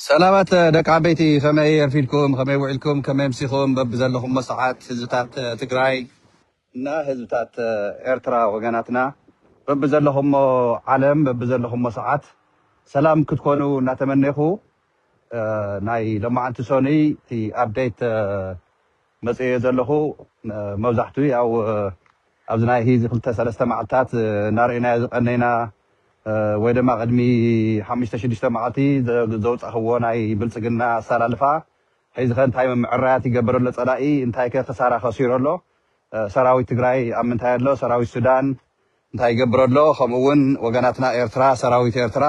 ሰላማት ደቂ ዓበይቲ ከመይ ኣርፊድኩም ከመይ ውዒልኩም ከመይ ኣምሲኹም በብዘለኹሞ ሰዓት ህዝብታት ትግራይ እና ህዝብታት ኤርትራ ወገናትና በብዘለኹሞ ዓለም በብዘለኹሞ ሰዓት ሰላም ክትኮኑ እናተመኔኹ ናይ ሎማዓንቲ ሶኑይ እቲ ኣብዴት መጽየ ዘለኹ መብዛሕቱ ያው ኣብዚ ናይ ሂዚ ክልተ ሰለስተ መዓልታት እናረኤናዮ ዝቀነይና ወይ ደማ ቅድሚ ሓሙሽተ ሽዱሽተ መዓልቲ ዘውጻኽዎ ናይ ብልጽግና ኣሳላልፋ ሒዚኸ እንታይ ምምዕራያት ይገብር ኣሎ ጸላኢ እንታይከ ክሳራ ከሲሩ ኣሎ ሰራዊት ትግራይ ኣብ ምንታይ ኣሎ ሰራዊት ሱዳን እንታይ ይገብር ኣሎ ከምኡ ውን ወገናትና ኤርትራ ሰራዊት ኤርትራ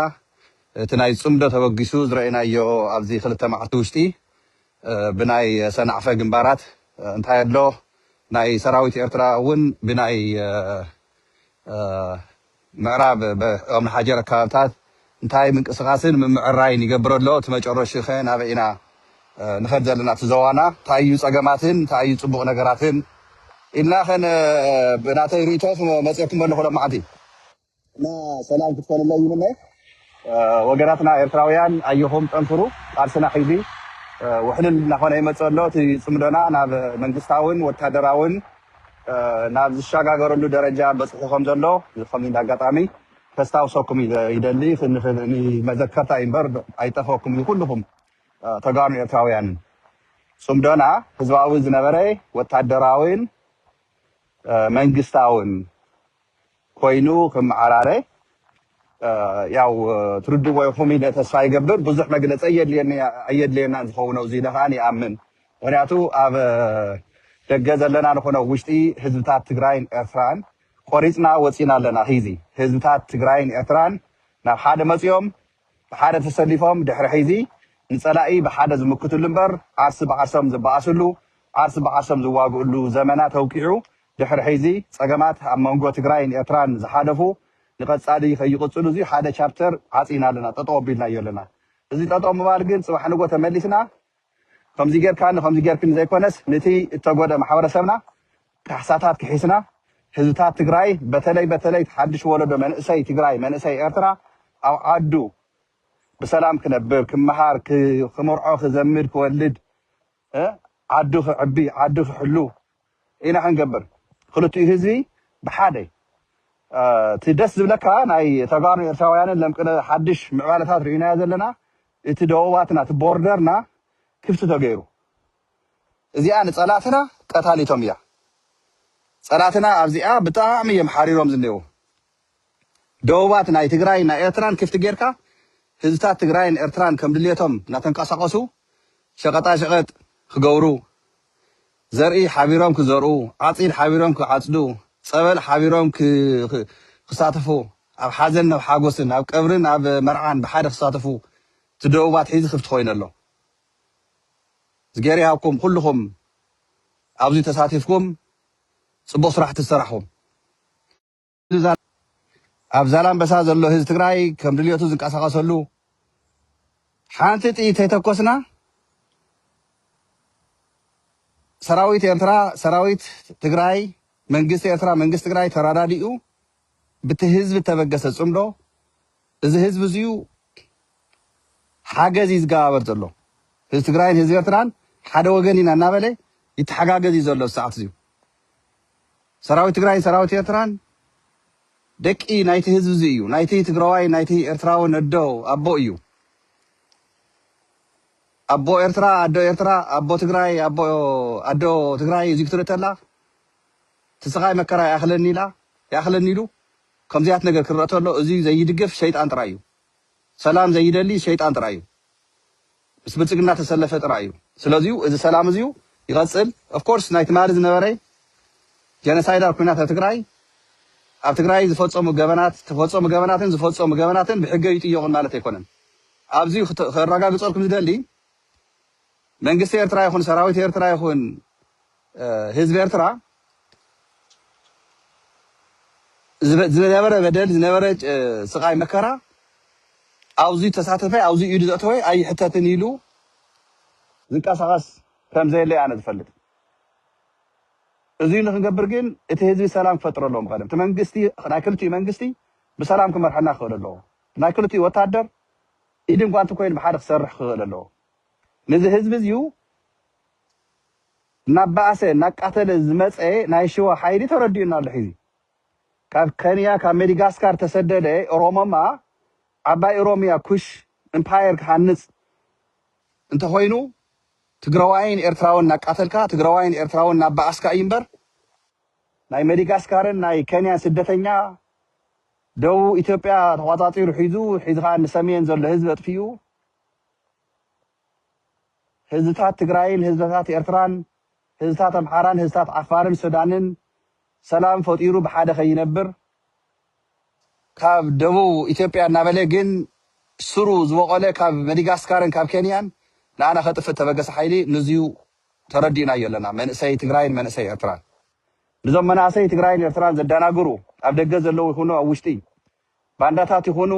እቲ ናይ ጽምዶ ተበጊሱ ዝረኤናዮ ኣብዚ ክልተ መዓልቲ ውሽጢ ብናይ ሰናዕፈ ግንባራት እንታይ ኣሎ ናይ ሰራዊት ኤርትራ እውን ብናይ ምዕራብ ኦምሓጀር ኣከባብታት እንታይ ምንቅስቃስን ምምዕራይን ይገብር ኣሎ እቲ መጨረሽኡ ከ ናበይ ኢና ንኸድ ዘለና እቲ ዞዋና እንታይ እዩ ጸገማትን እንታይ እዩ ጽቡቅ ነገራትን ኢልና ከ ብናተይ ሪኢቶ ክመጽየኩም ኣለኹ ሎማዓንቲ። እና ሰላም ክትኮንለይ ይምነ ወገናትና ኤርትራውያን ኣየኹም ጠንክሩ ቃልስና ሕዚ ውሕልል እናኾነ ይመፅእ ኣሎ እቲ ፅምዶና ናብ መንግስታውን ወታደራውን ናብ ዝሸጋገረሉ ደረጃ በፅሑ ከም ዘሎ ከም እንደ ኣጋጣሚ ከስታውሰኩም ይደሊ መዘከርታ እምበር ኣይጠፈኩም እዩ ኩልኹም ተጋሩን ኤርትራውያንን ፅምዶና ህዝባዊ ዝነበረ ወታደራውን መንግስታውን ኮይኑ ክመዓራረ ያው ትርድዎ ኢኹም ኢለ ተስፋ ይገብር። ብዙሕ መግለፂ ኣየድልየኒ ኣየድልየናን ዝኸውን ኣብዚ ኢለ ከዓኒ ይኣምን። ምኽንያቱ ኣብ ደገ ዘለና ንኹን ኣብ ውሽጢ ህዝብታት ትግራይን ኤርትራን ቆሪፅና ወፂእና ኣለና። ሂዚ ህዝብታት ትግራይን ኤርትራን ናብ ሓደ መፂኦም ብሓደ ተሰሊፎም ድሕሪ ሒዚ ንፀላኢ ብሓደ ዝምክትሉ እምበር ዓርሲ ብዓርሶም ዝበኣስሉ ዓርሲ ብዓርሶም ዝዋግእሉ ዘመናት ኣብቂዑ ድሕሪ ሕዚ ፀገማት ኣብ መንጎ ትግራይን ኤርትራን ዝሓለፉ ንቀፃሊ ከይቅፅሉ እዙይ ሓደ ቻፕተር ዓፂና ኣለና ጠጠው ኣቢልናዮ ኣለና እዙይ ጠጠው ምባል ግን ፅባሕ ንጎ ተመሊስና ከምዙይ ገይርካኒ ከምዙይ ገይርክኒ ዘይኮነስ ንቲ እተጎድእ ማሕበረሰብና ካሕሳታት ክሒስና ህዝብታት ትግራይ በተለይ በተለይ እቲ ሓዱሽ ወለዶ መንእሰይ ትግራይ መንእሰይ ኤርትራ ኣብ ዓዱ ብሰላም ክነብር ክመሃር ክምርዖ ክዘምድ ክወልድ እ ዓዱ ክዕቢ ዓዱ ክሕሉ ኢና ክንገብር ክልቲኡ ህዝቢ ብሓደ እ እቲ ደስ ዝብለካ ናይ ተጋሩን ኤርትራውያንን ለምቅነ ሓድሽ ምዕባለታት ርኢናዮ ዘለና እቲ ደወባትና እቲ ቦርደርና ክፍቲ ተገይሩ እዚኣ ንጸላትና ቀታሊቶም እያ ጸላትና ኣብዚኣ ብጣዕሚ እዮም ሓሪሮም ዝኔዉ ደወባት ናይ ትግራይን ናይ ኤርትራን ክፍቲ ጌርካ ህዝብታት ትግራይን ኤርትራን ከም ድልየቶም እናተንቀሳቐሱ ሸቐጣሸቐጥ ክገብሩ፣ ዘርኢ ሓቢሮም ክዘርኡ፣ ዓፂድ ሓቢሮም ክዓፅዱ፣ ፀበል ሓቢሮም ክሳተፉ፣ ኣብ ሓዘንን ኣብ ሓጎስን፣ ኣብ ቀብርን ኣብ መርዓን ብሓደ ክሳተፉ እቲ ደወባት ሕዚ ክፍቲ ኮይኑ ኣሎ። እዝግሄር ይሃብኩም ኩልኹም ኣብዚ ተሳቲፍኩም ፅቡቕ ስራሕቲ ዝሰራሕኹም። ኣብ ዛላምበሳ ዘሎ ህዝቢ ትግራይ ከም ድልየቱ ዝንቀሳቀሰሉ ሓንቲ ጥይት ተይተኮስና ሰራዊት ኤርትራ ሰራዊት ትግራይ መንግስቲ ኤርትራ መንግስቲ ትግራይ ተራዳዲኡ ብቲ ህዝቢ ተበገሰ ፅምዶ እዚ ህዝቢ እዚዩ ሓገዝ እዩ ዝገባበር ዘሎ ህዝቢ ትግራይን ህዝቢ ኤርትራን ሓደ ወገን ኢና እናበለ ይተሓጋገዝ እዩ ዘሎ ሰዓት እዚዩ ሰራዊት ትግራይን ሰራዊት ኤርትራን ደቂ ናይቲ ህዝቢ እዚ እዩ። ናይቲ ትግራዋይን ናይቲ ኤርትራውን ኣዶ ኣቦ እዩ። ኣቦ ኤርትራ ኣዶ ኤርትራ ኣቦ ትግራይ ኣቦ ኣዶ ትግራይ እዚ ክትርኢ ተላ እቲ ስቓይ መከራ ይኣኽለኒ ኢላ ይኣኽለኒ ኢሉ ከምዚያት ነገር ክረአ ተሎ እዚ ዘይድግፍ ሸይጣን ጥራይ እዩ። ሰላም ዘይደሊ ሸይጣን ጥራይ እዩ። ምስ ብልጽግና ተሰለፈ ጥራይ እዩ ስለዚዩ እዚ ሰላም እዚዩ ይቐጽል of course ናይ ትማሊ ዝነበረ ጀነሳይዳር ኩናት ኣብ ትግራይ ኣብ ትግራይ ዝፈጸሙ ገበናት ተፈጸሙ ገበናትን ዝፈጸሙ ገበናትን ብሕገ ይጥየቑን ማለት ኣይኮነን ኣብዚ ከረጋግጸልኩም ዝደሊ መንግስቲ ኤርትራ ይኹን ሰራዊት ኤርትራ ይኹን ህዝቢ ኤርትራ ዝነበረ በደል ዝነበረ ስቃይ መከራ ኣብዙይ ተሳተፈ ኣብዙይ ኢዱ ዘእተወ ኣይሕተትን ኢሉ ዝንቀሳቀስ ከምዘየለ ኣነ ዝፈልጥ እዙይ ንክንገብር ግን እቲ ህዝቢ ሰላም ክፈጥረ ኣለዎም ቀደም እቲ መንግስቲ ናይ ክልቲኡ መንግስቲ ብሰላም ክመርሐና ክኽእል ኣለዎ ናይ ክልቲኡ ወታደር ኢድን ጓንቲ ኮይኑ ብሓደ ክሰርሕ ክኽእል ኣለዎ ነዚ ህዝቢ እዚዩ እናባኣሰ እናቃተለ ዝመፀ ናይ ሽዋ ሓይሊ ተረዲኡና ኣሎ ሕዚ ካብ ከንያ ካብ ሜዲጋስካር ተሰደደ ኦሮሞማ ዓባይ ኦሮሚያ ኩሽ እምፓየር ክሃንፅ እንተኾይኑ ትግራዋይን ኤርትራውን እናቃተልካ ትግራዋይን ኤርትራውን እናባኣስካ እዩ እምበር ናይ ሜዲጋስካርን ናይ ከንያን ስደተኛ ደቡብ ኢትዮጵያ ተቋፃፂሩ ሒዙ ሒዚ ከዓ ንሰሜን ዘሎ ህዝቢ ኣጥፊኡ ህዝብታት ትግራይን ህዝብታት ኤርትራን ህዝብታት ኣምሓራን ህዝብታት ዓፋርን ሱዳንን ሰላም ፈጢሩ ብሓደ ከይነብር ካብ ደቡብ ኢትዮጵያ እናበለ ግን ስሩ ዝበቖለ ካብ መዲጋስካርን ካብ ኬንያን ንኣና ከጥፍእ ተበገሰ ሓይሊ ንዙዩ ተረዲእናዮ ኣለና መንእሰይ ትግራይን መንእሰይ ኤርትራን ንዞም መናእሰይ ትግራይን ኤርትራን ዘዳናግሩ ኣብ ደገ ዘለው ይኹኑ ኣብ ውሽጢ ባንዳታት ይኹኑ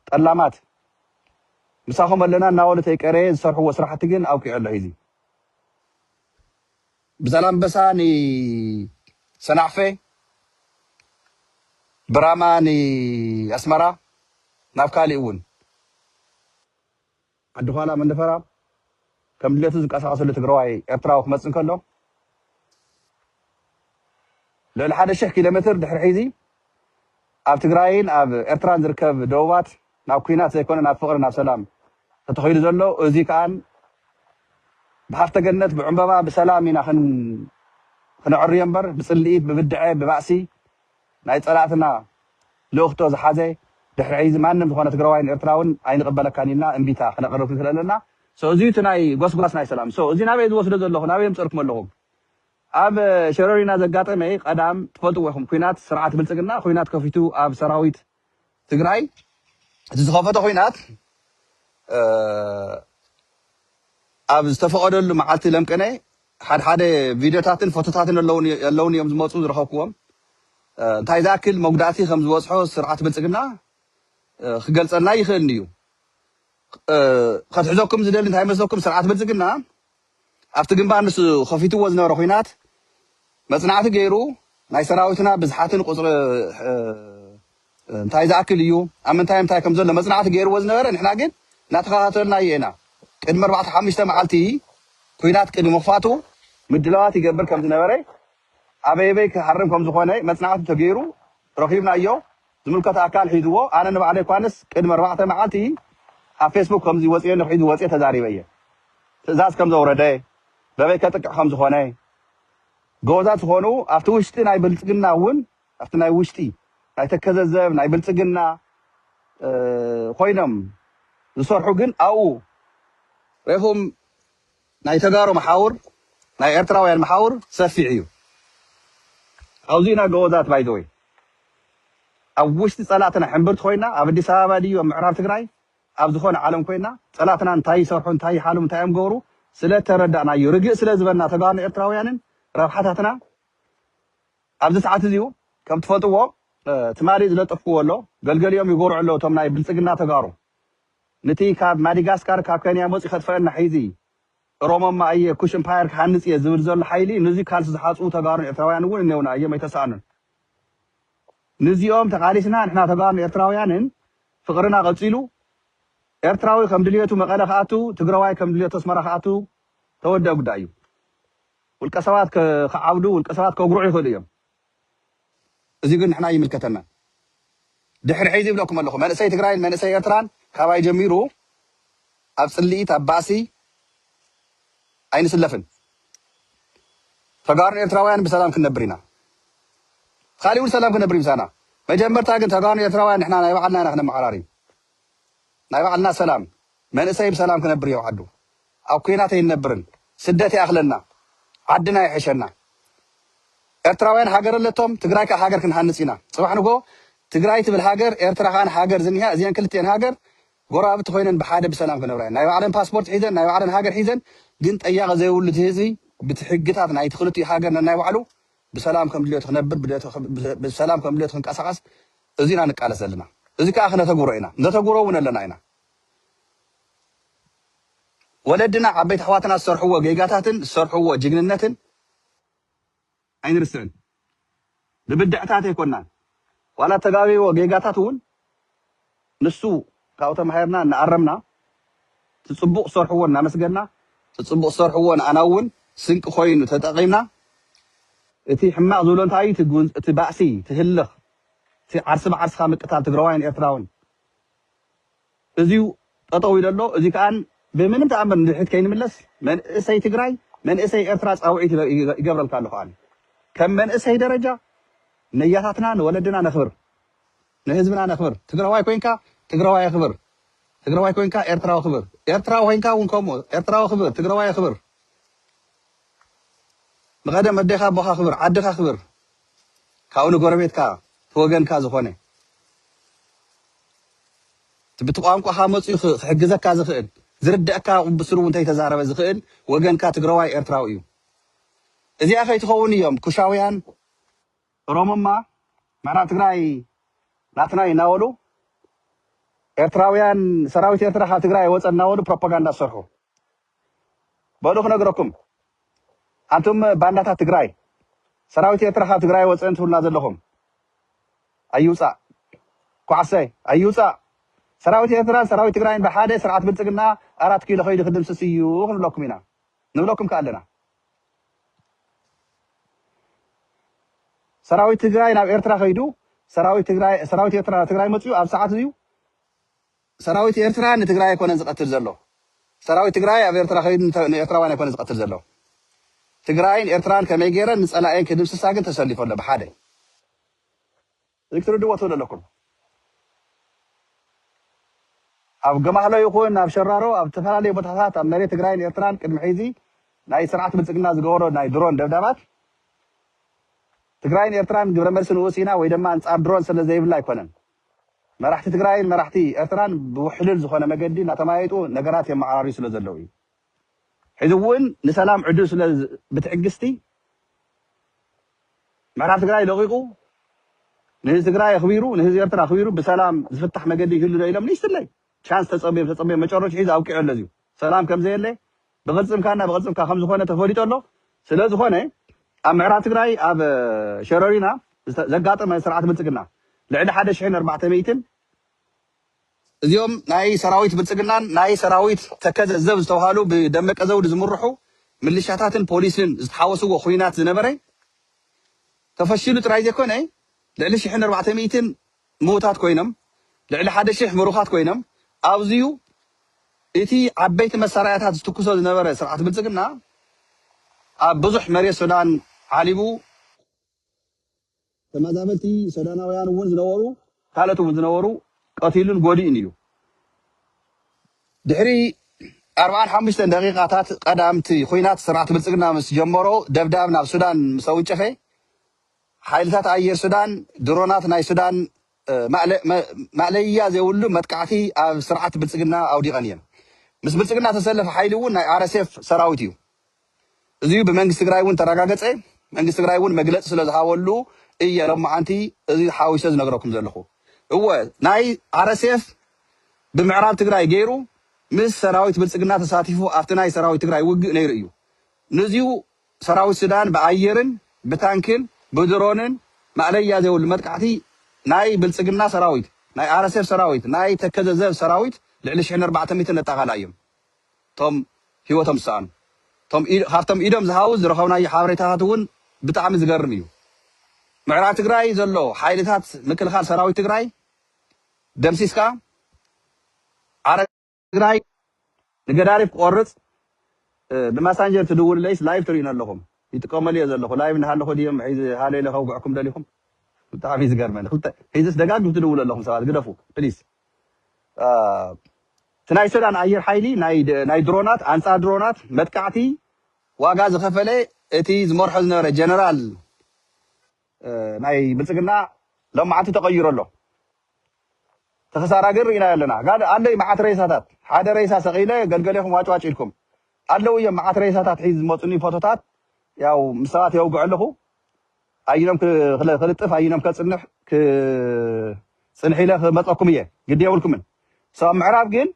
ጠላማት ምሳኹም ኣለና እናበሉ ተይቀረየ ዝሰርሕዎ ስራሕቲ ግን ኣብቂዑ ኣሎ ሂዚ። ብዛላምበሳ ንሰናዕፈ ብራማ ንኣስመራ ናብ ካሊእ እውን። ዓዲ ዃላ መንደፈራ ከም ድሌቱ ዝቀሳቀሰሉ ትግራዋይ ኤርትራዊ ክመጽእ እንከሎ ልዕሊ ሓደ ሽሕ ኪሎ ሜትር ድሕሪ ሕዚ ኣብ ትግራይን ኣብ ኤርትራን ዝርከብ ደቡባት ናብ ኩናት ዘይኮነ ናብ ፍቅሪ ናብ ሰላም ተተኺሉ ዘሎ እዚ ከኣን ብሃፍተ ገነት ብዕምበባ ብሰላም ኢና ክን ክነዕርዮ እምበር ብጽልኢት ብብድዐ ብባእሲ ናይ ፀላእትና ልእኽቶ ዝሓዘ ድሕሪ ሕይዚ ማንም ዝኾነ ትግራዋይን ኤርትራውን ኣይንቕበለካን ኢልና እምቢታ ክነቕርብ ስለለና so እዙይ እቲ ናይ ጎስጓስ ናይ ሰላም so እዙይ ናበይ ዝወስዶ ዘለኹ ናበይ የምፀእልኩም ኣለኹም ኣብ ሸረሪና ዘጋጠመ ቀዳም ትፈልጥዎ ኢኹም ኩናት ስርዓት ብልፅግና ኩናት ከፊቱ ኣብ ሰራዊት ትግራይ እቲ ዝኸፈቶ ኹናት ኣብ ዝተፈቐደሉ መዓልቲ ለምቅነ ሓድሓደ ቪድዮታትን ፎቶታትን ኣለውኒ እዮም ዝመፁ ዝረኸብኩዎም እንታይ ዝኣክል መጉዳእቲ ከም ዝበፅሖ ስርዓት ብልፅግና ክገልፀልና ይኽእል እዩ ከትሕዘኩም ዝደሊ እንታይ መስለኩም ስርዓት ብልፅግና ኣብቲ ግንባር ንሱ ከፊትዎ ዝነበረ ኹናት መፅናዕቲ ገይሩ ናይ ሰራዊትና ብዝሓትን ቁፅሪ እንታይ ዝኣክል እዩ ኣብ ምንታይ ምንታይ ከም ዘሎ መፅናዕቲ ገይርዎ ዝነበረ ንሕና ግን እናተኸታተልናዮ ኢና ቅድሚ ኣርባዕተ ሓሙሽተ መዓልቲ ኹናት ቅድሚ ምኽፋቱ ምድላዋት ይገብር ከም ዝነበረ ኣበየበይ ክሃርም ከም ዝኾነ መፅናዕቲ ተገይሩ ረኺብናዮ ዝምልከቶ ኣካል ሒዝዎ ኣነ ንባዕለይ ኳንስ ቅድሚ ኣርባዕተ መዓልቲ ኣብ ፌስቡክ ከምዚ ወጺኤሉ ሒዙ ወጽየ ተዛሪበ እየ ትእዛዝ ከም ዘውረደ በበይ ከጥቅዕ ከም ዝኾነ ጎበዛት ዝኾኑ ኣብቲ ውሽጢ ናይ ብልጽግና እውን ኣብቲ ናይ ውሽጢ ናይ ተከዘ ዘብ ናይ ብልጽግና ኮይኖም ዝሰርሑ ግን ኣብኡ ሬኹም ናይ ተጋሩ መሓውር ናይ ኤርትራውያን መሓውር ሰፊሕ ኢዩ ኣውዚእና ገወዛት ባይ ዘ ወይ ኣብ ውሽጢ ጸላእትና ሕምብርቲ ኮይና ኣብ ኣዲስ ኣበባ ድዩ ኣብ ምዕራብ ትግራይ ኣብ ዝኾነ ዓለም ኮይና ጸላእትና እንታይ ይሰርሑ እንታይ ይሓልሙ እንታይ እዮም ገብሩ ስለ ተረዳእናዩ ርግእ ስለ ዝበልና ተጋሩን ኤርትራውያንን ረብሓታትና ኣብዚ ሰዓት እዚዩ ከም ትፈልጥዎ ትማሊ ዝለጠፍክዎ ኣሎ ገልገሊኦም ይጎርዑ ኣለዉ እቶም ናይ ብልጽግና ተጋሩ ንቲ ካብ ማዲጋስካር ካብ ከንያ መጽዩ ከጥፈኣና ሒዚ እሮሞማ ኣየ ኩሽ እምፓየር ክሃንጽ እየ ዝብል ዘሎ ሓይሊ ንዙ ካልሲ ዝሓጽቡ ተጋሩን ኤርትራውያን እውን እነውና ኣዮም ኣይተሳእኑን ንዚኦም ተቃሊስና ንሕና ተጋሩን ኤርትራውያንን ፍቅርና ቀጺሉ ኤርትራዊ ከም ድልየቱ መቀለ ክኣቱ ትግረዋይ ከም ድልየቱ ኣስመራ ክኣቱ ተወደእ ጉዳይ እዩ ውልቀ ሰባት ክዓብዱ ውልቀ ሰባት ከጉርዑ ይኽእሉ እዮም እዚ ግን ንሕና ኣይምልከተናን ድሕሪ ሕዚ ይብለኩም ኣለኩ መንእሰይ ትግራይን መንእሰይ ኤርትራን ካባይ ጀሚሩ ኣብ ፅልኢት ኣብ ባእሲ ኣይንስለፍን ተጋሩን ኤርትራውያን ብሰላም ክንነብር ኢና ካሊእ እውን ሰላም ክነብር ምሳና መጀመርታ ግን ተጋሩን ኤርትራውያን ንሕና ናይ ባዕልና ኢና ክነመዓራሪ ናይ ባዕልና ሰላም መንእሰይ ብሰላም ክነብር እዩ ዓዱ ኣብ ኩናት ኣይንነብርን ስደት ይኣክለና ዓድና ይሕሸና ኤርትራውያን ሃገር ኣለቶም ትግራይ ከኣ ሃገር ክንሃንጽ ኢና ጽባሕ ንግሆ ትግራይ ትብል ሃገር ኤርትራ ከኣ ንሃገር ዝኒሃ እዚኤን ክልቲኤን ሃገር ጎረባብቲ ኮይነን ብሓደ ብሰላም ክነብራ እየን ናይ ባዕለን ፓስፖርት ሒዘን ናይ ባዕለን ሃገር ሒዘን ግን ጠያቂ ዘይብሉ እቲ ህዝቢ ብቲ ሕግታት ናይቲ ክልቲኡ ሃገር ነናይ ባዕሉ ብሰላም ከም ድልዮቱ ክነብር ብሰላም ከም ድልዮቱ ክንቀሳቀስ እዚ ኢና ንቃለስ ዘለና እዚ ከኣ ክነተግብሮ ኢና ነተግብሮ እውን ኣለና ኢና ወለድና ዓበይቲ ኣሕዋትና ዝሰርሕዎ ጌጋታትን ዝሰርሕዎ ጅግንነትን ኣይንርስዕን። ብብድዕታት ኣይኮናን ዋላ እተጋበይዎ ጌጋታት እውን ንሱ ካብኡ ተማሂርና እናኣረምና እቲ ፅቡቕ ዝሰርሕዎ እናመስገና እቲ ፅቡቕ ዝሰርሕዎ ንኣና እውን ስንቂ ኮይኑ ተጠቒምና እቲ ሕማቕ ዝብሎ እንታይ እዩ እቲ ባእሲ እቲ ህልኽ እቲ ዓርሲ ብዓርስኻ ምቅታል ትግራዋይን ኤርትራውን እዚዩ ጠጠው ኢሉ ኣሎ እዚ ከኣ ብምንም ተኣምር ንድሕሪት ከይንምለስ መንእሰይ ትግራይ መንእሰይ ኤርትራ ጻውዒት ይገብረልካ ኣለኩ ኣነ ከም መንእሰይ ደረጃ ነያታትና ንወለድና ነክብር ንህዝብና ነክብር ትግራዋይ ኮንካ ትግራዋይ ኣክብር ትግራዋይ ኮንካ ኤርትራዊ ክብር ኤርትራዊ ኮንካ እውን ከምኡ ኤርትራዊ ክብር ትግራዋይ ክብር ንቀደም ኣዴኻ ኣቦኻ ክብር ዓድኻ ክብር ካብኡ ንጎረቤትካ ተወገንካ ዝኾነ እቲ ብቲ ቋንቋኻ መጽዩ ክሕግዘካ ዝኽእል ዝርደኣካ ብስሩ ውን ተይተዛረበ ዝኽእል ወገንካ ትግረዋይ ኤርትራዊ እዩ እዚኣ ከይትኸውን እዮም ኩሻውያን ኦሮሙማ ንሕና ትግራይ ናትና እዩ እናበሉ ኤርትራውያን ሰራዊት ኤርትራ ካብ ትግራይ ኣይወጸን እናበሉ ፕሮፓጋንዳ ዝሰርሑ። በሉ ክነግረኩም ኣንቱም ባንዳታት ትግራይ ሰራዊት ኤርትራ ካብ ትግራይ ኣይወፅእን ትብሉና ዘለኹም ኣይውፃእ ኳዕሰይ ኣይውፃእ ሰራዊት ኤርትራን ሰራዊት ትግራይን ብሓደ ስርዓት ብልፅግና ኣራት ኪሎ ከይዱ ክድምስስ እዩ ክንብለኩም ኢና ንብለኩም ከ ኣለና ሰራዊት ትግራይ ናብ ኤርትራ ከይዱ ሰራዊት ትግራይ ሰራዊት ኤርትራ ናብ ትግራይ መፅኡ ኣብ ሰዓት እዩ ሰራዊት ኤርትራ ንትግራይ ኣይኮነን ዝቀትል ዘሎ ሰራዊት ትግራይ ኣብ ኤርትራ ከይዱ ንኤርትራውያን ኣይኮነን ዝቀትል ዘሎ ትግራይን ኤርትራን ከመይ ገይረን ንጸላኤን ክድምስሳ ግን ተሰሊፉ ኣሎ ብሓደ እዚ ክትርድዎ ትብሉ ኣለኩም ኣብ ገማህሎ ይኹን ኣብ ሸራሮ ኣብ ዝተፈላለዩ ቦታታት ኣብ መሬት ትግራይን ኤርትራን ቅድሚ ሕዚ ናይ ስርዓት ብልጽግና ዝገበሮ ናይ ድሮን ደብዳባት ትግራይን ኤርትራን ግብረ መልሲ ንኡስ ኢና ወይ ድማ ኣንጻር ድሮን ስለ ዘይብላ ኣይኮነን መራሕቲ ትግራይን መራሕቲ ኤርትራን ብውሕሉል ዝኾነ መገዲ እናተመያየጡ ነገራት የመዓራርዩ ስለ ዘለዉ እዩ። ሕዚ እውን ንሰላም ዕድል ስለ ብትዕግስቲ ምዕራብ ትግራይ ለቒቑ ንህዝቢ ትግራይ ኣኽቢሩ ንህዝቢ ኤርትራ ኣኽቢሩ ብሰላም ዝፍታሕ መገዲ ይህሉ ዶ ኢሎም ንእሽትለይ ቻንስ ተጸብዮም ተጸብዮም መጨረሹ ሒዚ ኣብቂዑ ኣሎ እዚዩ ሰላም ከም ዘየለ ብቕልፅምካና ብቕልፅምካ ከምዝኾነ ተፈሊጡ ኣሎ። ስለዝኾነ ኣብ ምዕራብ ትግራይ ኣብ ሸረሪና ዘጋጠመ ስርዓት ብልፅግና ልዕሊ ሓደ ሽሕን ኣርባዕተ ሚእትን፣ እዚኦም ናይ ሰራዊት ብልፅግናን ናይ ሰራዊት ተከዘ ዘብ ዝተብሃሉ ብደመቀ ዘውዲ ዝምርሑ ምልሻታትን ፖሊስን ዝተሓወስዎ ኹናት ዝነበረ ተፈሺሉ ጥራይ ዘይኮነ ልዕሊ ሽሕን ኣርባዕተ ሚእትን ምዉታት ኮይኖም ልዕሊ ሓደ ሽሕ ምሩኻት ኮይኖም ኣዚዩ እቲ ዓበይቲ መሳርያታት ዝትኩሶ ዝነበረ ስርዓት ብልጽግና ኣብ ብዙሕ መሬት ሱዳን ዓሊቡ ተመዛበልቲ ሱዳናውያን ውን ዝነበሩ ካልኦት ውን ዝነበሩ ቀቲሉን ጎዲኡን እዩ። ድሕሪ ኣርብዓን ሓሙሽተን ደቂቃታት ቀዳምቲ ኹናት ስርዓት ብልጽግና ምስ ጀመሮ ደብዳብ ናብ ሱዳን ምስ ኣውንጨፈ ሓይልታት ኣየር ሱዳን ድሮናት ናይ ሱዳን ማእለያ ዘይብሉ መጥቃዕቲ ኣብ ስርዓት ብልፅግና ኣውዲቐን እየን። ምስ ብልፅግና ዝተሰለፈ ሓይሊ እውን ናይ RSF ሰራዊት እዩ። እዙይ ብመንግስቲ ትግራይ እውን ተረጋገፀ። መንግስቲ ትግራይ እውን መግለፂ ስለዝሃበሉ እየ ሎማዓንቲ እዙይ ሓዊሰ ዝነግረኩም ዘለኹ። እወ ናይ RSF ብምዕራብ ትግራይ ገይሩ ምስ ሰራዊት ብልፅግና ተሳቲፉ ኣብቲ ናይ ሰራዊት ትግራይ ውግእ ነይሩ እዩ። ንዚዩ ሰራዊት ሱዳን ብኣየርን ብታንክን ብድሮንን ማእለያ ዘይብሉ መጥቃዕቲ ናይ ብልጽግና ሰራዊት፣ ናይ RSF ሰራዊት፣ ናይ ተከዘ ዘብ ሰራዊት ልዕሊ ሽሕን ኣርባዕተ ሚእትን ነጣቓላ ኢዮም እቶም ህይወቶም ዝሰኣኑ። እቶም ካብቶም ኢዶም ዝሃቡ ዝረኸብናዮ ሓበሬታታት እውን ብጣዕሚ ዝገርም ኢዩ። ምዕራብ ትግራይ ዘሎ ሓይልታት ምክልኻል ሰራዊት ትግራይ ደምሲስካ፣ ትግራይ ንገዳሪፍ ክቆርፅ ብማሳንጀር ትድውልለይስ ላይቭ ትርእዩኒ ኣለኹም ይጥቀመሉ እየ ዘለኹ ላይቭ እናሃለኹ ድዮም ሒዚ ሃሎ ኢለ ከውግዐኩም ደሊኹም ብጣዕሚ ዝገርመኒ ክልተ ሒዚስ ደጋግም ትድውሉ ኣለኹም ሰባት ግደፉ ፕሊስ እቲ ናይ ሱዳን ኣየር ሓይሊ ናይ ድሮናት ኣንፃር ድሮናት መጥቃዕቲ ዋጋ ዝኸፈለ እቲ ዝመርሖ ዝነበረ ጀነራል ናይ ብልፅግና ሎማዓንቲ ተቀይሩ ኣሎ ትክሳራ ግን ሪኢናዮ ኣለና ጋል ኣለይ ማዓት ሬሳታት ሓደ ሬሳ ሰቂለ ገልገሌኩም ዋጭ ዋጭ ኢልኩም ኣለው እዮም ማዓት ሬሳታት ሒዝ ዝመፁኒ ፎቶታት ያው ምስ ሰባት የውግዕ ኣለኩ ኣይኖም ክልጥፍ ኣይኖም ከፅንሕ ፅንሕ ኢለ ክመፀኩም እየ ግዲ የብልኩምን ሶ ኣብ ምዕራብ ግን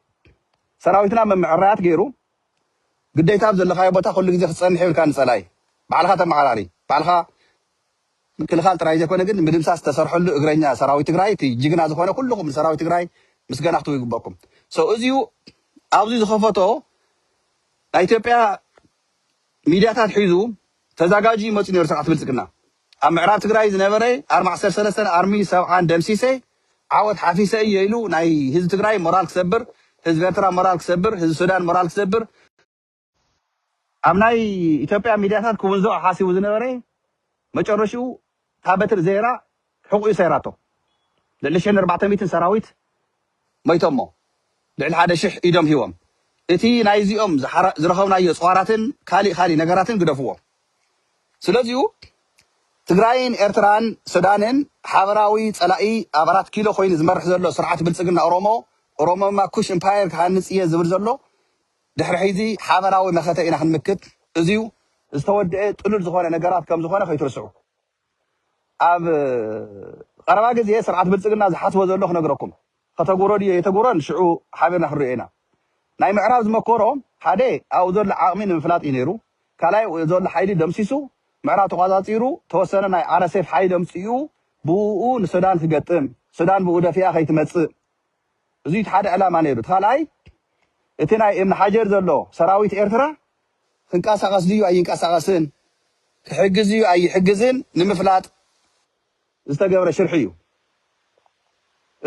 ሰራዊትና መምዕራያት ገይሩ ግዴታ ኣብ ዘለኻዮ ቦታ ኩሉ ግዜ ክትጸንሕ የብልካን ንጸላኢ ባዕልኻ ተመዓራሪ ባዕልኻ ምክልኻል ጥራይ ዘይኮነ ግን ንምድምሳስ ዝተሰርሐሉ እግረኛ ሰራዊት ትግራይ እቲ ጅግና ዝኾነ ኩሉኹም ንሰራዊት ትግራይ ምስገና ክትቡ ይግበኩም so እዚዩ ኣብዚ ዝኸፈቶ ናይ ኢትዮጵያ ሚድያታት ሒዙ ተዛጋጁ ይመጽእ ነይሩ ስርዓት ብልጽግና ኣብ ምዕራብ ትግራይ ዝነበረ ኣርሚ ዓሰርተ ሰለስተን ኣርሚ ሰብዓን ደምሲሰ ዓወት ሓፊሰ እየ ኢሉ ናይ ህዝቢ ትግራይ ሞራል ክሰብር፣ ህዝቢ ኤርትራ ሞራል ክሰብር፣ ህዝቢ ሱዳን ሞራል ክሰብር፣ ኣብ ናይ ኢትዮጵያ ሚድያታት ክውንዞኦ ሓሲቡ ዝነበረ መጨረሽኡ እታ በትሪ ዘይራ ሕቑኡ ሰይራቶ። ልዕሊ ሽሕን ኣርባዕተ ሚእትን ሰራዊት ሞይቶሞ ልዕሊ ሓደ ሽሕ ኢዶም ሂቦም እቲ ናይ እዚኦም ዝረኸብናዮ ፅዋራትን ካሊእ ካሊእ ነገራትን ግደፍዎ ስለዚኡ ትግራይን ኤርትራን ሱዳንን ሓበራዊ ፀላኢ ኣብ ኣራት ኪሎ ኮይኑ ዝመርሕ ዘሎ ስርዓት ብልፅግና ኦሮሞ ኦሮሞማ ኩሽ እምፓየር ክሃንፅ እየ ዝብል ዘሎ ድሕሪ ሕዚ ሓበራዊ መኸተ ኢና ክንምክት እዚዩ ዝተወደኤ ጥሉል ዝኾነ ነገራት ከምዝኾነ ከይትርስዑ። ኣብ ቐረባ ግዜ ስርዓት ብልጽግና ዝሓስቦ ዘሎ ክነግረኩም ከተግብሮ ድዩ ኣይተግብሮን ሽዑ ሓቢርና ክንሪኦ ኢና ናይ ምዕራብ ዝመኮሮ ሓደ ኣብኡ ዘሎ ዓቕሚ ንምፍላጥ እዩ ነይሩ ካልኣይ ኣብኡ ዘሎ ሓይሊ ደምሲሱ ምዕራብ ተቖጻጺሩ ተወሰነ ናይ RSF ሓይሊ ኣምጺኡ ብእኡ ንሱዳን ክገጥም ሱዳን ብኡ ደፊኣ ከይትመጽእ እዚ እቲ ሓደ ዕላማ ነይሩ እቲ ካልኣይ እቲ ናይ እብኒ ሓጀር ዘሎ ሰራዊት ኤርትራ ክንቀሳቐስ ድዩ ኣይንቀሳቐስን፣ ክሕግዝ ድዩ ኣይሕግዝን ንምፍላጥ ዝተገብረ ሽርሒ እዩ።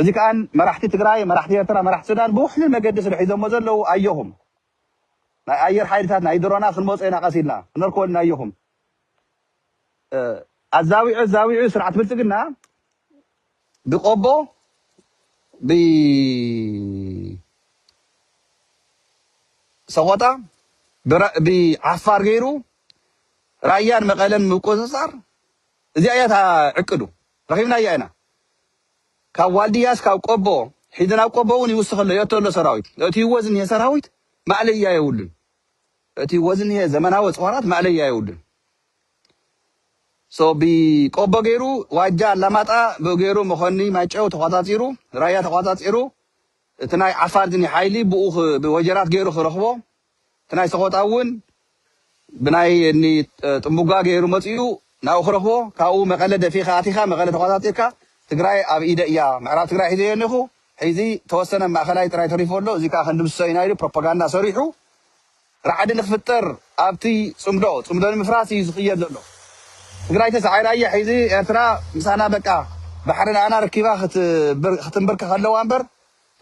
እዚ ከኣ መራሕቲ ትግራይ፣ መራሕቲ ኤርትራ፣ መራሕቲ ሱዳን ብውሕሉል መገዲ ስለ ሒዞሞ ዘለዉ ኣዮኹም ናይ ኣየር ሓይልታት ናይ ድሮናት ክንመጾ ኢና ቀስ ኢልና ክነርክቦ ኢና ኣዮኹም ኣዛዊዑ ኣዛዊዑ ስርዓት ብልጽግና ብቆቦ ብሰቆጣ ብዓፋር ገይሩ ራያን መቐለን ምቁፅፃር እዚኣ እያ እታ ዕቅዱ ረኺብናያ ኢና ካብ ዋልድያ እስካብ ቆቦ ሒዚ ናብ ቆቦ እውን ይውስኽ ኣሎ የእቶ ኣሎ ሰራዊት እእትይዎ ዝኒሀ ሰራዊት ማእለያ የብሉን እቲ ወዝኒሀ ዘመናዊ ፅዋራት ማእለያ የብሉን So ብቆቦ ገይሩ ዋጃ ኣላማጣ ብኡ ገይሩ መኾኒ ማይጨው ተቋጻጺሩ ራያ ተቋጻጺሩ እቲ ናይ ዓፋር ዝኒ ሓይሊ ብኡ ብወጀራት ገይሩ ክረኽቦ እቲ ናይ ሰቆጣ እውን ብናይ እኒ ጥንቡጋ ገይሩ መጺኡ ናብኡ ክረኽቦ ካብኡ መቐለ ደፊእኻ ኣቲኻ መቐለ ተቋጻጺርካ ትግራይ ኣብ ኢደይ እያ ምዕራብ ትግራይ ሒዘዮ እኒኹ ሕዚ ተወሰነ ማእኸላይ ጥራይ ተሪፎ ኣሎ እዚ ከዓ ክንድምስሶ ኢና ኢሉ ፕሮፓጋንዳ ሰሪሑ ራዕዲ ንክፍጠር ኣብቲ ፅምዶ ፅምዶ ንምፍራስ እዩ ዝክየድ ዘሎ ትግራይ ተሳዒራ እያ ሒዚ ኤርትራ ምሳና በቃ ባሕሪ ናኣና ረኪባ ክትምብርከክ ኣለዋ እምበር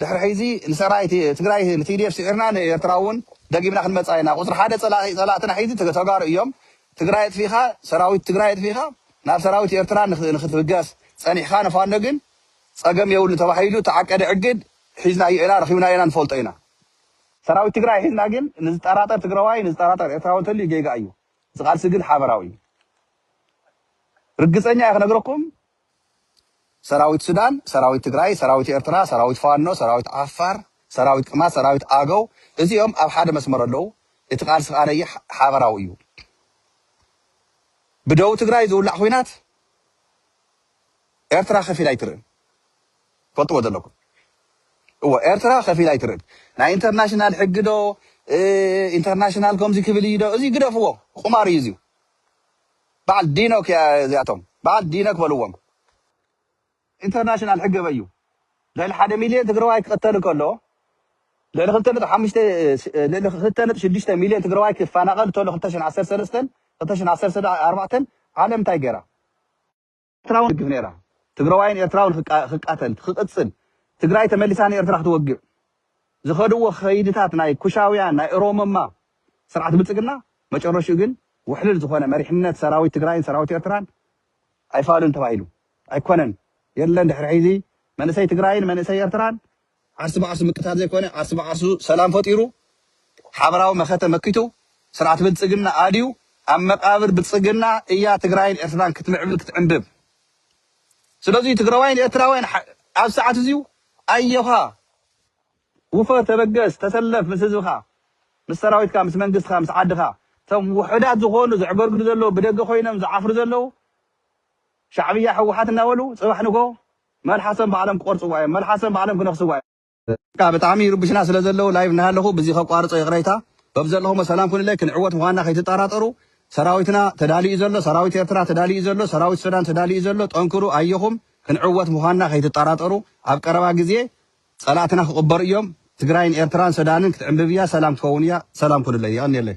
ድሕሪ ሒዚ ንሰራዊት ትግራይ ንቲዲኤፍ ስዒርና ንኤርትራ እውን ደጊምና ክንመፃ ኢና ቁፅሪ ሓደ ፀላኢ ፀላእትና ሒዚ ተጋሩ እዮም ትግራይ ኣጥፊእካ ሰራዊት ትግራይ ኣጥፊእካ ናብ ሰራዊት ኤርትራ ንክትብገስ ፀኒሕካ ንፋኖ ግን ፀገም የብሉን ተባሂሉ ተዓቀደ ዕግድ ሒዝናዮ ኢና ረኪብናዮ ኢና ንፈልጦ ኢና ሰራዊት ትግራይ ሒዝና ግን ንዝጠራጠር ትግራዋይ ንዝጠራጠር ኤርትራዊ እንተልዩ ጌጋ እዩ እዚ ቃልሲ ግን ሓበራዊ እዩ ርግፀኛ እየ ክነግረኩም ሰራዊት ሱዳን ሰራዊት ትግራይ ሰራዊት ኤርትራ ሰራዊት ፋኖ ሰራዊት ዓፋር ሰራዊት ቅማት ሰራዊት ኣገው እዚኦም ኣብ ሓደ መስመር ኣለው እቲ ቃልሲ ከዓ ነይ ሓበራዊ እዩ ብደቡብ ትግራይ ዝውላዕ ኩናት ኤርትራ ከፊላ ኣይትርእን ትፈልጥዎ ዘለኩም እወ ኤርትራ ከፊላ ኣይትርእን ናይ ኢንተርናሽናል ሕጊ ዶ ኢንተርናሽናል ከምዚ ክብል እዩ ዶ እዚ ግደፍዎ ቁማር እዩ እዚ በዓል ዲኖክ እያ እዚኣቶም በዓል ዲነክ በልዎም ኢንተርናሽናል ሕጊ ኣበይ እዩ ልዕሊ ሓደ ሚልዮን ትግራዋይ ክቕተል ከሎ ልዕሊ ክልተ ነጥቢ ሓሙሽተ ልዕሊ ክልተ ነጥቢ ሽዱሽተ ሚልዮን ትግራዋይ ክፈናቐል ተሎ ክልተ ሽሕን ዓሰርተ ሰለስተን ክልተ ሽሕን ዓሰርተ ኣርባዕተን ዓለም እንታይ ገይራ ኤርትራውን ትድግፍ ነይራ። ትግረዋይን ኤርትራውን ክቃተል ክቅጽል ትግራይ ተመሊሳ ንኤርትራ ክትወግእ ዝኸድዎ ከይድታት ናይ ኩሻውያን ናይ እሮሞማ ስርዓት ብልጽግና መጨረሽኡ ግን ውሕልል ዝኾነ መሪሕነት ሰራዊት ትግራይን ሰራዊት ኤርትራን ኣይፋሉን ተባሂሉ ኣይኮነን የለን ድሕሪ ሕዚ መንእሰይ ትግራይን መንእሰይ ኤርትራን ዓርሲ ብዓርሱ ምቅታል ዘይኮነ ዓርሲ ብዓርሱ ሰላም ፈጢሩ ሓበራዊ መኸተ መኪቱ ስርዓት ብልፅግና ኣድዩ ኣብ መቃብር ብልፅግና እያ ትግራይን ኤርትራን ክትምዕብል ክትዕንብብ ስለዙይ ትግራዋይን ኤርትራውያን ኣብ ሰዓት እዙይ ኣዮኻ ውፈር ተበገስ ተሰለፍ ምስ ህዝብኻ ምስ ሰራዊትካ ምስ መንግስትኻ ምስ ዓድኻ እቶም ውሑዳት ዝኾኑ ዘዕገርግዱ ዘለዉ ብደገ ኮይኖም ዝዓፍሩ ዘለዉ ሻዕብያ ሕወሓት እናበሉ ፅባሕ ንጎ መልሓሰም ባዕሎም ክቆርጽዋ እዮም መልሓሰም ባዕሎም ክነክስዋ እዮም። በቃ ብጣዕሚ ይርቡሽና ስለ ዘለዉ ላይቭ እናሃለኹ ብዚ ከቋርጾ ይቕረይታ በብዘለኹሞ ሰላም ኩኑለይ ክንዕወት ምዃንና ከይትጣራጠሩ ሰራዊትና ተዳልዩ እዩ ዘሎ ሰራዊት ኤርትራ ተዳልዩ እዩ ዘሎ ሰራዊት ሱዳን ተዳልዩ እዩ ዘሎ ጠንክሩ ኣየኹም ክንዕወት ምዃንና ከይትጣራጠሩ ኣብ ቀረባ ግዜ ጸላእትና ክቕበሩ እዮም ትግራይን ኤርትራን ሰዳንን ክትዕንብብ እያ ሰላም ክትከውን እያ ሰላም ኩኑለይ የቐንየለይ።